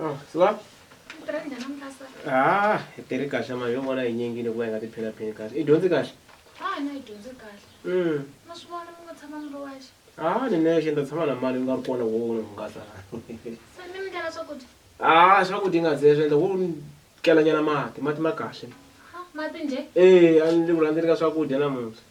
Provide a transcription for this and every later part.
Ah, se va? Ah, hi tiri kahle mali yo vona hi nyingini ku va hi nga tiphina phini kahle i dyondzi kahle ah ni nexe ni ta tshama na mali ni nga ri kona wo ni hungasa ah swakudya nga ze swi endla wo kelanyana mati mati ma kahle ee a ni vula ndzi ri ka swakudya namuntlha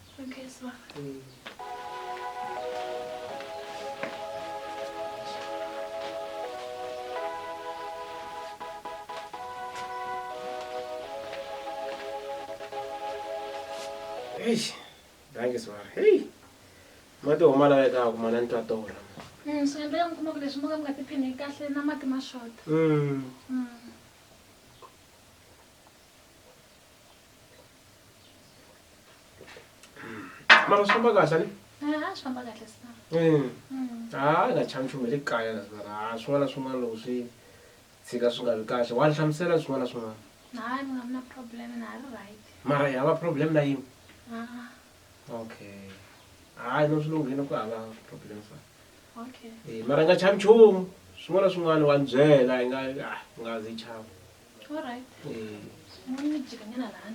Eish, danke Swara. Hey. Mati huma lawa eka kuma na ntwa tora. Mm, so yendla ya mukuma ku leswi mo ka mi nga tiphini kahle na mati ma xota Mm. Mm. mara swi famba kahle a swi famba kahle sa mm. mm. ha nga chami nchumu hi le kaya la mara ha swin'wana na swin'wana loko swi tshika swi nga vi kahle wa ni hlamusela swin'wana na swin'wana hayi mi nga vi na problem na ha ri right mara hi hava problem na yini okay hayi no swi lunghile ku hava problem sa okay eh, mara nga chami nchumu swin'wana na swin'wana wa ni byela hi nga ah, nga zi chama Alright. Eh, Semuanya jikanya lalaan.